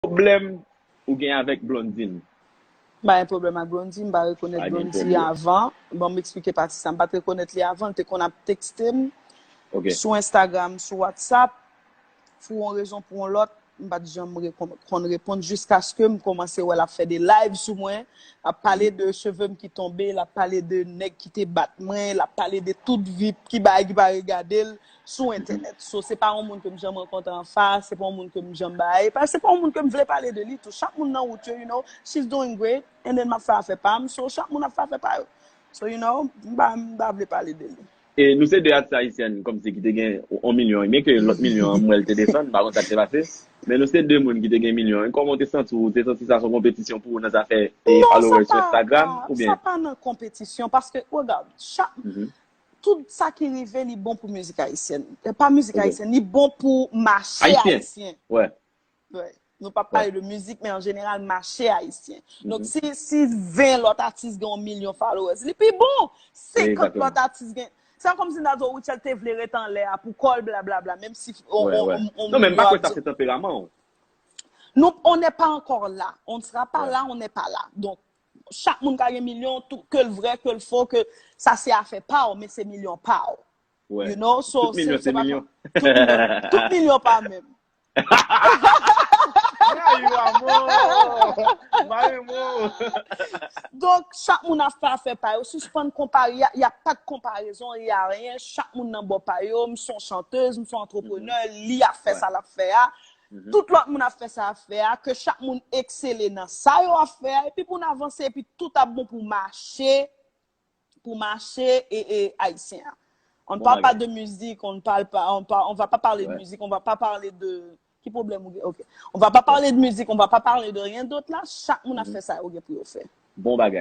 pwoblèm ou gen avèk Blondine? M pa gen pwoblèm ak Blondie, m pa rekonèt Blondie avan, bon m eksplike pati sa, m pat rekonèt li avan, l te konn ap tekste m sou Instagram, sou Whatsapp, pou yon rezon pou yon lòt, m pat janm konn reponn jiskaske m kòmanse wè l ap fè de live sou mwen, l ap pale de cheve m ki tonbe, l ap pale de nèg ki te bat mwen, l ap pale de tout vi, ki bagay ki pa regade l, sou entènèt. So, se pa yon moun ke m janm rankontre an fas, se pa yon moun ke m janm bay, e pa, se pa yon moun ke m vle pale de li tou. Chak moun nan wout yo, you know, she's doing great, and then m ap fè afè pa m, so chak moun ap fè afè pa yo. So, you know, m pa, m pa vle pale de li. E nou se 2 atis ayisyèn kòmsi ki te gen yon milyon e, byen ke lòt milyon an m wè l te desann, m pa konn sa k te pase, men nou se 2 moun ki te gen milyon e, kòman w te santi w? Ou te santi sa s on konpetisyon pou ou nan zafè e followers sou Instagram oubyen? Non, sa pa, sa pa nan konpetisyon, paske, regarde, chak, Tout sa ki rive li bon pou mizik ayisyen. E pa mizik ayisyen, li bon pou mache ayisyen. Nou pa pale de mizik, men an jeneral mache ayisyen. Donk si 20 lot atis gen 1 milyon followers, li pi bon. 50 lot atis gen. Se an kom si nan do Rutshelle te vle ret an lè a pou kol bla bla bla. Menm si. Non men pa kwe sa se tanperaman ou. Non, on ne pa ankor la. On ne sera pa la, on ne pa la. Donk. Chak moun ka gen milyon, ke l vrè, ke l fo, ke sa se afè pa w, men se milyon pa w. You know? Tout milyon se milyon. Tout milyon pa menm. Mayou amò! Mayou mò! Donk, chak moun ap fè afè pa yo. Sispann konpare, y a pa de konparezon, y a anyen. Chak moun nan bò pa yo. M son chantez, m son antreprenè, li ap fè sa l ap fè a. Tout lòt moun ap fè sa ap fè a, ke chak moun eksele nan sa yo ap fè a, epi pou n avanse, epi tout ap bon pou mache, pou mache e e Ayisyen an. On ne parle pas de musique, on ne parle pas, on va pas parler de musique, on va pas parler de, ki pwoblèm ou gen, ok. On va pas parler de musique, on va pas parler de rien d'autre la, chak moun ap fè sa yo gen pou yo fè. Bon bagay.